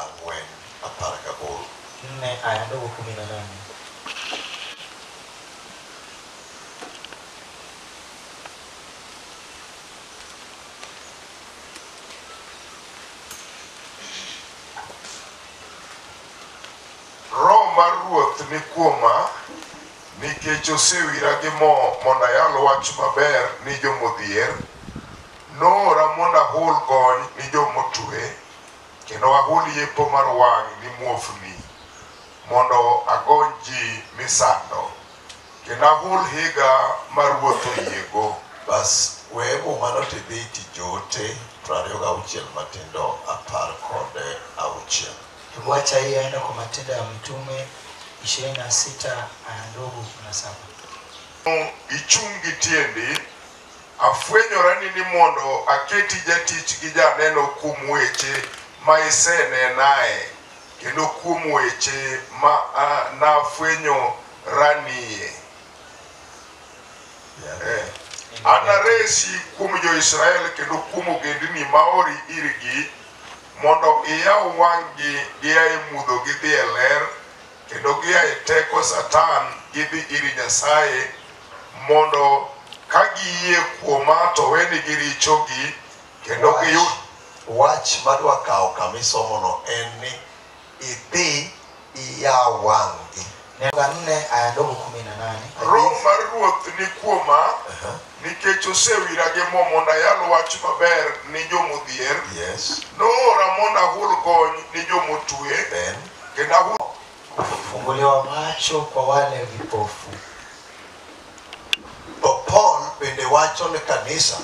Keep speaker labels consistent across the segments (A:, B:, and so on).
A: ang'wen apar gaboro.
B: Roho mar Ruoth ni kuoma, nikech osewira gi mo mondo ayal wach maber ni jo modhier, Noora mondo ahul gony ni jo motue, kendo ahul yepo mar wang' ni muofni, mondo agony ji misando, kendo ahul higa ma ruoth oyiego. Bas, we
C: mumano to idhi iti joote piero ariyo gauchiel matindo apar kod auchiel. Hebu acha
A: hii aende kwa Matendo ya Mitume 26 aya ndogo 17. Ichung' gi
B: tiendi. Afwenyorani ni mondo aketi jatich gi janeno kuom weche ma isenenae, kendo kuom weche ma nafwenyoranie. Anaresi kuom jo-Israel kendo kuom ogendini maori irgi, mondo iyaw wang'gi gia e mudho gidhi e ler, Kendo gia e teko Satan gidhi ir Nyasaye mondo ka giyie kuoma to wenigi richogi kendo giyud Wach
C: madwa kawo kama isomono en ni idhi iyaw wang'gi. Neno ya nne
A: aya ndogo kumi na nane. Roho mar Ruoth
B: ni kuoma Aha, nikech osewira gi mo mondo ayal wach maber ni jomodhier Yes,
C: noora mondo
B: ahul gony ni jomotue then kendo ahulo kufunguliwa
A: macho kwa wale vipofu.
C: To Paul bende wacho ne kanisa,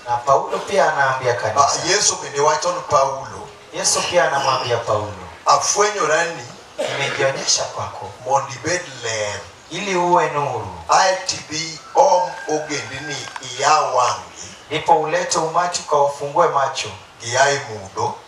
C: Na Paulo
A: pia anaambia ah, kanisa, Yesu bende wacho ne
C: Paulo, Yesu pia anamwambia
A: Paulo, afwenyorani
C: nimejionyesha
A: kwako mondo ibed
C: ler, ili uwe
A: nuru, ae tibi
C: om ogendini iya wang'gi ndipo ulete
A: umati ukawafungue macho, giaye mudho,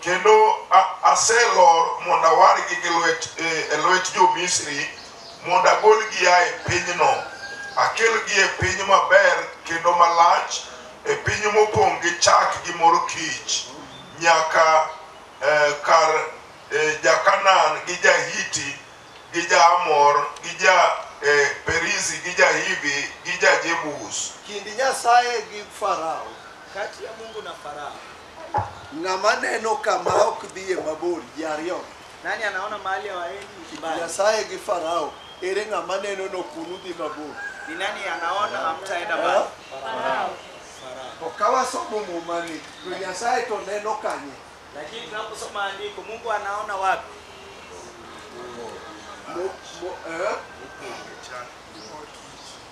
B: Kendo a- aselor mondo awargi gi lwet, e, e lwet jo-Misri mondo agolgi a e pinyno, akelgi e piny maber kendo malach, e piny mopong' gi chak gi mor kich, nyaka e, kar e, ja-Kanaan gi ja-Hiti gi ja-Amor gi ja-Perizi gi ja-Hivi gi ja-Jebus. Kind Nyasaye
C: gi Farao. Kati ya Mungu
A: na Farao. Ng'ama
C: neno kama ok dhiye mabor ji ariyo. Nani anaona
A: mahali hawaendi ni kibaya? Nyasaye gi Farao.
C: Ere ng'ama neno ni ok unudhi mabor? Ni nani anaona
A: hamtaenda mbali? To
C: ka wasomo mumani, to Nyasaye to neno kanye? Lakini tunaposoma
A: andiko, Mungu anaona wapi? Mo- mo- eh?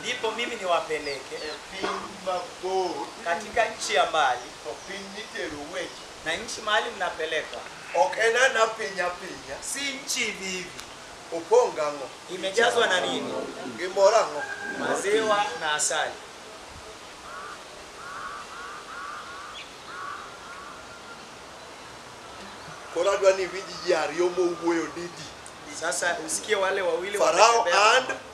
C: ndipo mimi
D: niwapeleke e piny
C: mabor, katika nchi ya
D: mbali to piny mitero
C: weche na nchi mahali
D: mnapelekwa ok en ana
C: piny apinya, si nchi hivi
D: hivi, opong' gang'o?
C: imejazwa na nini?
D: Gi mor ang'o?
C: Maziwa na
D: asali.
C: Koro adwa ni iwinj ji ariyo mowuoyo didi. Sasa usikie
D: wale wawili Farao wanatembea. and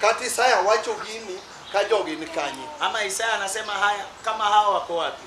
C: kata isaya wacho gini ka jogi ni kanye ama isaya anasema
D: haya kama hawa wako wapi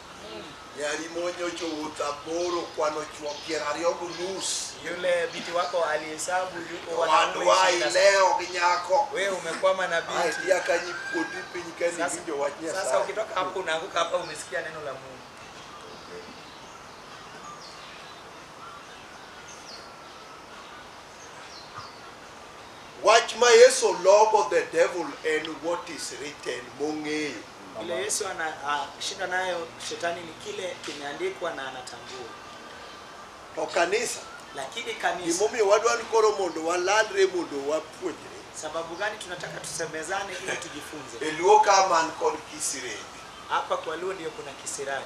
D: Nyari
C: monyo jowuoth aboro kwano chwo piero ariyo gi nus. Yule binti wako
D: alihesabu yuko wanaume Wadwa ishirini na
C: saba. ilewo gi
D: nyako.
C: Wewe umekwama na
D: binti. Aeti akanyi puodi
C: piny ka Sasa- niwinjo wach Sasa Nyasaye. ukitoka hapo
D: unaanguka
C: hapa
D: umesikia neno la Mungu.
C: Wach ma Yesu logo the devil en what is written mong'eyo. Ile Yesu
D: anashinda nayo shetani ni kile kimeandikwa na anatambua.
C: To kanisa Lakini kanisa,
D: gimomiyo wadwa ni koro
C: mondo walalre mondo wapuonjre. sababu gani
D: tunataka tusemezane ili tujifunze? E Luo ka man
C: kod kisireni. Hapa kwa Luo
D: ndio kuna kisirani.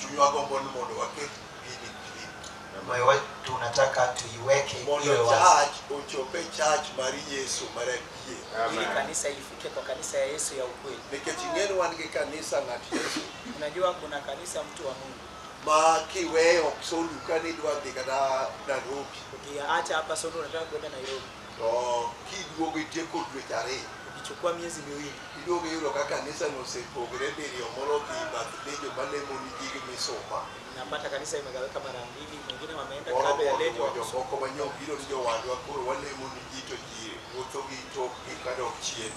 C: Chunywa gombo ni mondo waket gini clean. moyo wetu
A: tunataka tuiweke Mondo iwe wazi church ochope
C: church mar Yesu mar adier. ili kanisa
D: ifike kwa kanisa ya Yesu ya ukweli. Nikech ing'eni wan gi
C: kanisa ng'at Yesu Unajua kuna
D: kanisa mtu wa Mungu, ma kiweyo
C: ok soluka ni idwa dhi kata Nairobi. ukiacha hapa
D: Solo unataka kwenda Nairobi, to
C: kiduogo itieko dweche ariyo ikichukua miezi
D: miwili iduogo iyudo ka
C: kanisa no osepogre diriyo moro dhi bath lejo malemo ni gig misumba napata kanisa
D: imegawika mara mbili mwingine wameenda moro klabu ya mondo lejo mondo
C: moko
D: manyobiro ni
C: jowadwa koro walemo ni ji to ji wuotho gi tokgi kadok chien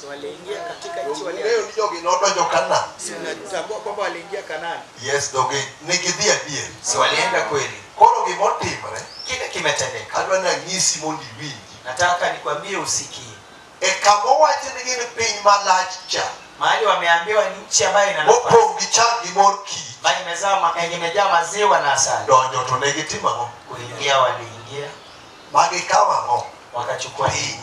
C: So
D: waliingia katika nchi Donge waliyo. ni jogi nodonjo
C: Kanaan. Si unatambua kwamba
D: waliingia Kanaani? Yes, donge ne
C: gidhi adier. si walienda kweli
D: Koro gimotimre,
C: kile kimetendeka
D: adwa ni anyisi
C: mondo iwinji. nataka nikwambie
D: usikie E kama
C: owacho ni gin piny malach cha, mahali wameambiwa
D: ni nchi ambayo ina nafasi mopong' gi chak gi mor
C: kich, ambayo imezaa ma- yenye
D: imejaa maziwa na asali donjo to ne gitimo
C: ang'o? kuingia waliingia
D: Magikawo
C: ang'o? wakachukua Piny.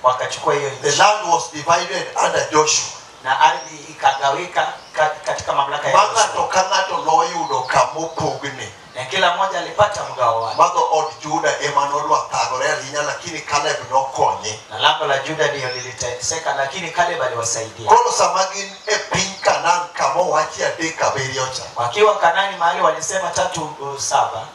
C: wakachukua hiyo The
D: nchi land was divided
C: under Joshua. na ardhi
D: ikagawika ka- katika mamlaka ya Ma Yoshua. ng'ato ka ng'ato
C: noyudo kama opogne. na kila mmoja
D: alipata mgao wake, Ma dhood Juda
C: ema nodwa thagore ahinya lakini Kaleb nokonye. na lango la Juda
D: ndiyo liliteseka, lakini Kaleb aliwasaidia. Koro sama gin
C: e piny Kanaan kama owachi adek abiriyo cha, Wakiwa Kanani mahali
D: walisema tatu uh, saba,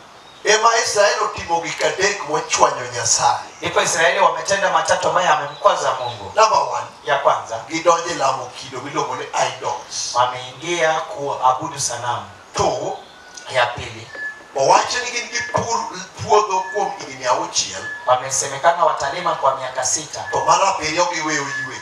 D: Ema
C: Israel otimo gik adek mochwanyo Nyasaye. Ndipo Israeli
D: wametenda matatu ambayo yamemkwaza Mungu. Number one, Ya
C: kwanza,
D: gidonjo e lamo
C: kido miluongo ni idols. wameingia
D: kuabudu sanamu. Two,
C: Ya pili,
D: owacho ni gin
C: gipur puodho kuom higni auchiel wamesemekana
D: watalima kwa miaka sita, to mar abiriyo
C: giweyo ywe.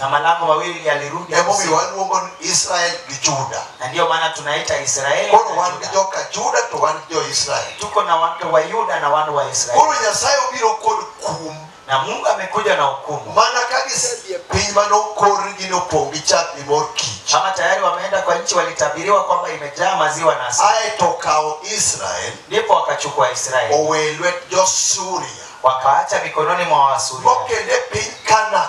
C: na malango mawili
D: yalirudi Emomiyo kusini. waluongo ni Israel
C: gi Juda. na ndiyo maana tunaita
D: Israeli Koro na wan gi Yuda. joka
C: Juda
D: to wan
C: gi jo-Israel. tuko na watu wa
D: Yuda na wana wa Israeli Koro Nyasaye obiro
C: kod kum na Mungu amekuja
D: na hukumu mana ka gisedhi
C: e piny mane okorgi ni opong' gi chak gi mor kich. kama tayari wameenda kwa
D: nchi walitabiriwa kwamba imejaa maziwa na asali Ae to okawo
C: Israel ndipo wakachukua
D: Israeli owe e lwet
C: jo-Suria wakaacha mikononi
D: mwa Waasuria mokende piny
C: Kanaan.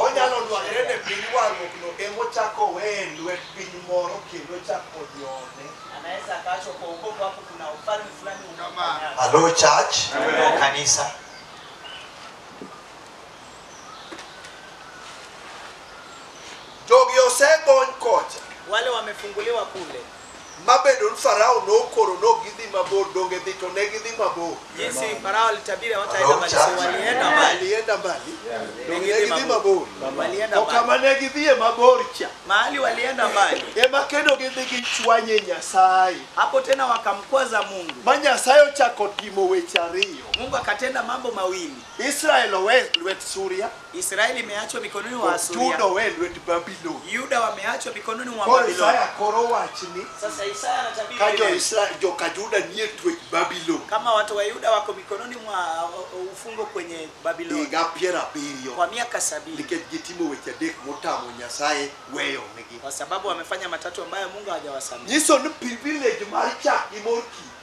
C: Onyalo dwarore ni piny warruokno emochako weye lwet piny moro kendo chako jone. Anaweza akaachwa
D: kwa ukovu hapo, kuna ufalme fulani unaofanya. Hello church,
C: hello kanisa. Jogi osegony kocha. Wale wamefunguliwa
D: kule. mabedo ni
C: Farao nokoro ni ok gidhi mabor, donge dhi to ne gidhi mabor. Jinsi Farao
D: alitabiri hawataenda mbali, so walienda mbali, Walienda mbali,
C: donge ne gidhi
D: mabor.
C: walienda To mbali. kama
D: ne gidhiye mabor
C: cha, Mahali walienda
D: mbali, ema kendo gidhi
C: gichwanye Nyasaye. hapo tena
D: wakamkwaza Mungu. Ma Nyasaye ochako
C: timo weche ariyo. Mungu akatenda mambo
D: mawili. Israel owe e
C: lwet Suria, Israeli imeachwa
D: mikononi mwa to Juda Asuria, owe e lwet
C: Babulon. Yuda wameachwa
D: mikononi mwa Koro Babiloni. Isaya koro
C: wach ni Sasa Isaya anatabiri
D: ka jo lile, Israel joka
C: Juda nie twech Babulon kama watu wa Yuda
D: wako mikononi mwa uh, uh, ufungo kwenye Babiloni higa piero abiriyo
C: kwa miaka sabini
D: nikech gitimo weche
C: adek motamo Nyasaye weyonegi. kwa sababu wamefanya
D: matatu ambayo Mungu hajawasamehe. Nyiso ni privilege
C: mar chak gi mor kich.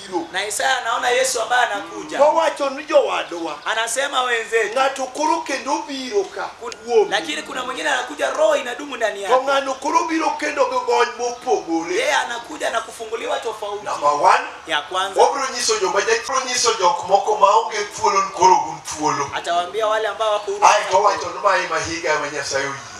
C: biro. na Isaya anaona
D: Yesu ambaye anakuja, Mowacho ni jowadwa,
C: anasema wenzetu,
D: ng'ato koro kendo
C: biro ka kuomi. lakini kuna mwingine
D: anakuja, roho inadumu ndani To yake, ng'ano koro biro kendo
C: gi gony mopogore. yeye anakuja na
D: kufunguliwa tofauti. Number one, Ya
C: kwanza wabiro
D: nyiso joma jachiro
C: nyiso jok moko maonge thuolo ni koro gun thuolo. atawaambia wale ambao
D: wako huru Ae to wacho ni mae
C: ma higa ma Nyasaye oyie.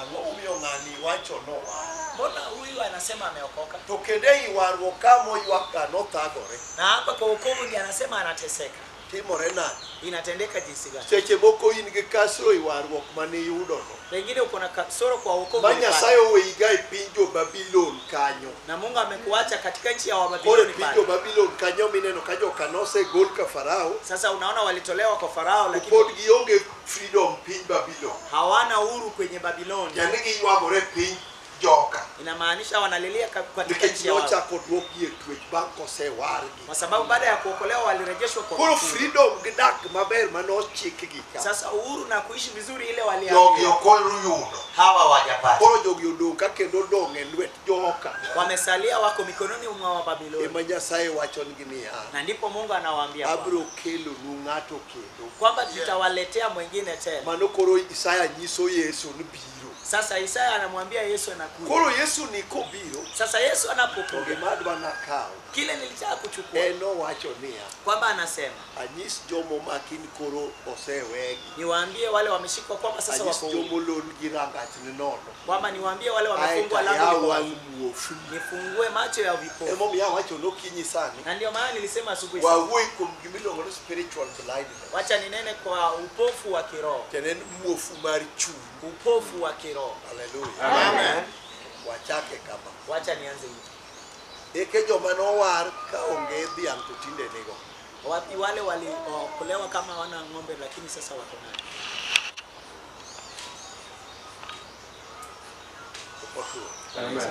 A: Ang'o
C: momiyo ng'ani wachono wach? Mbona huyu
D: anasema ameokoka To kendo ei warruok
C: ka moywakga nothagore. na hapa kwa wokovu
D: ndiye anasema anateseka? Timore nade?
C: Inatendeka jinsi
D: gani? Seche moko in gi
C: kasro e warruok mane iyudono. Pengine uko na
D: kasoro kwa wokovu Ma ulipata. Nyasaye oweyiga
C: e
D: piny
C: jo-Babilon kanyo. na Mungu amekuacha
D: katika nchi ya Koro e Wababiloni piny pale.
C: jo-Babilon kanyo mineno
D: ka
C: joka nosegol ka Farao, Sasa unaona walitolewa
D: kwa Farao, lakini pod gionge
C: freedom piny Babylon. hawana uhuru
D: kwenye Babiloni, Tiende giywagore
C: piny joka inamaanisha wanalilia
D: ka- katika nikech nchi ya wao, nochako
C: dwokgi
D: e twech
C: bang' kosewargi. kwa sababu baada ya
D: kuokolewa walirejeshwa kwa Koro kufuru. freedom gi
C: dak maber ma nochikgi ka. Sasa uhuru na kuishi
D: vizuri ile Jogi waliambiwa okol ruyudo.
C: Hawa wajapata.
A: Koro jogi odong' ka
C: kendo odong' e lwet joka. wamesalia, wako
D: mikononi mwa Wababiloni, Ema Nyasaye wachonigi
C: niya, na ndipo Mungu
D: anawaambia kwamba, abiro kelonu
C: ng'ato kendo kwamba tutawaletea
D: mwingine tena. mano koro isaya
C: nyiso yesu ni biro Sasa Isaya
D: anamwambia Yesu anakuja. koro yesu ni
C: kobiro Sasa Yesu to anapokuja,
D: gima adwa nakawo
C: kile nilitaka
D: kuchukua en nowacho niya
C: kwamba anasema
D: anyis jomo
C: makin koro osewegi niwaambie wale
D: wameshikwa kwamba sasa anyis wako huru, jomo lon gi rangach
C: ni nono kwamba niwaambie wale
D: aeto wamefungwa ayaw lango liko wazi.
C: wang'
D: muofu nifungue
C: macho
D: ya vipofu, emomiyo awacho nokinyi
C: sani na ndio maana nilisema
D: asubuhi sana. wawuoyi kuom gimiluongo
C: ni spiritual blindness. Wacha ninene kwa
D: upofu wa kiroho, Tiende en muofu
C: mar chuny. upofu wa
D: kiroho. Hallelujah. Amen. Wachake
C: kama. Wacha nianze hivi.
D: Eke
C: joma nowar ka onge dhiang' to tinde nigo. Wapi wale
D: waliokolewa kama wana ng'ombe lakini sasa wako nayo?
C: Okotuo. Amen.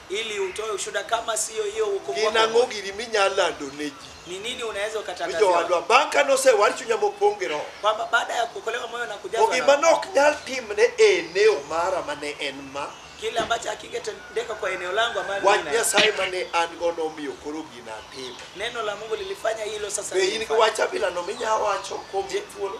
C: ili utoe ushuhuda
D: kama siyo hiyo wokovu gin wako ang'o umoja. giri minyalo
C: lando ne ji ni nini unaweza mi
D: ukatangazia jowadwa bang' ka
C: nosewar chunya mopong' gi roho kwamba baada ya kuokolewa moyo
D: na to kujazwa
C: na gima
D: Roho, nok
C: nyal timne
D: e
C: eneo mara
D: ma ne
C: en
D: ma
C: kile
D: ambacho hakingetendeka kwa eneo langu ambalo wach nina- nyasaye ma ne
C: an go nomiyo koro gina atimo neno la mungu
D: lilifanya hilo sasa be in gi nilifanya. wach abilano
C: minya wacho kuom thuolo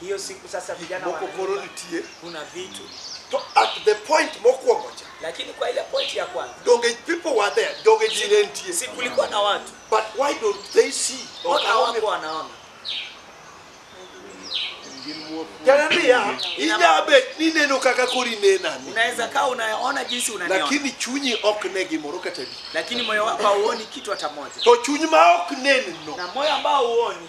C: Hiyo siku sasa
D: vijana moko koro wanaimba, nitie
C: kuna
D: vitu to at the
C: point mokwongo cha lakini kwa ile point ya
D: kwanza donge people were
C: there donge ji ne nitie si kulikuwa na watu
D: but why don't
C: they see mbona hawako wanaona jananiya inyabet ni neno kaka koro inenani unaweza kaa unaona
D: jinsi unaniona lakini chunyi ok
C: ne gimoro kata di lakini moyo wako hauoni
D: kitu hata moja to chuny ma ok
C: nenno na moyo ambao huoni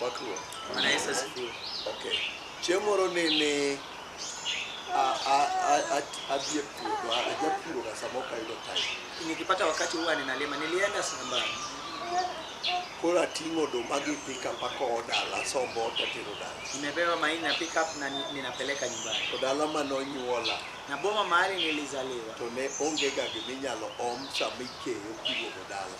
C: Pakruok. Bwana Yesu
D: asifiwe. Okay.
C: Chieng' moro ne ne a- a- a- a- adhi e puodho, a- ajapuroga sama ok ayudo time. Nikipata wakati
D: huwa ninalima. Nilienda shambani
C: Koro ating'o oduma gi pickup akowo dala, asombo ot atero dala. nimebeba mahindi na pick
D: up na ni- ninapeleka nyumbani. To dala ma
C: nonyuola Na boma mahali
D: nilizaliwa to ne ongega
C: giminyalo om sama ikeyo kiduogo dala.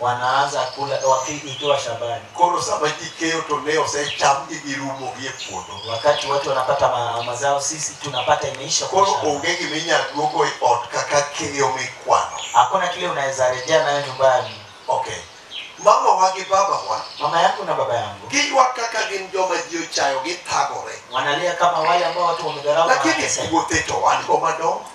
C: wanaanza kula
A: wakitoa shambani. Koro sama ji
C: keyo to ne osechamgi girumo gi e puodho. Wakati watu wanapata
A: ma, mazao, sisi tunapata imeisha. kwa Koro shamba. onge gima inyalo
C: duogo e ot kaka keyo mikwano. Hakuna kile unaweza
A: rejea nayo nyumbani. Okay.
C: Mamawa gi babawa Mama yangu na baba
A: yangu giywak kaka gin
C: joma ji ochayo githagore. wanalia kama wale
A: ambao watu wamedharau na Lakini wanateseka. puothe to
C: wan go madongo.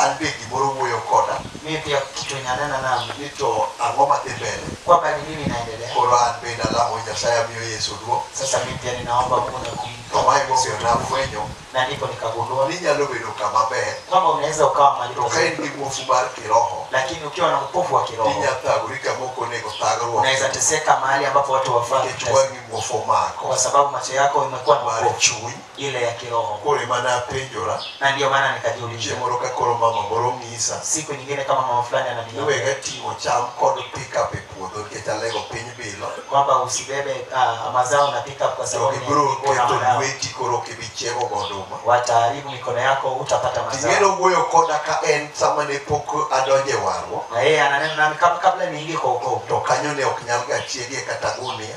C: An be gimoro wuoyo koda. Mimi pia kitu
A: inanena nami. Ni to ang'o
C: madhi mbele? Kwamba ni nini inaendelea.
A: Koro an bende alamo
C: Nyasaye amiyo Yesu duong'. Sasa mimi pia ninaomba
A: Mungu na kum. To ma emomiyo
C: nafwenyo. Na ndipo nikagundua.
A: Ni inyalo bedo kama
C: ber. Kwamba unaweza ukawa
A: mahali To ka pazuri. in gi muofu mar
C: kiroho, Lakini ukiwa na upofu
A: wa kiroho. inya thagori kama ok
C: onego thagruok. Unaweza teseka mahali
A: ambapo watu wafaa. Nikech wang'i muofu
C: omako. Kwa sababu macho yako
A: imekuwa na Mar upofu. chuny. ile
C: ya
A: kiroho, Koro ema napenjora
C: na ndio maana
A: nikajiuliza chieng' moro ka koro mama
C: moro ng'isa siku nyingine kama mama
A: fulani ananiambia niwega ting'o
C: cham kod pickup e puodho nikech alego piny bilo kwamba usibebe
A: ah, mazao na pickup kwa sababu ni- ibiro kuna keto mazao.
C: lweti
A: koro ok
C: ibi chiego goduma wataharibu mikono
A: yako, utapata mazao. ting'eno wuoyo koda ka
C: en sama ne pok adonje warruok Na yeye ananena nami
A: kab- kabla niingie kwa wokovu, to kanyo ne ok nyal
C: ga chiegie kata gunia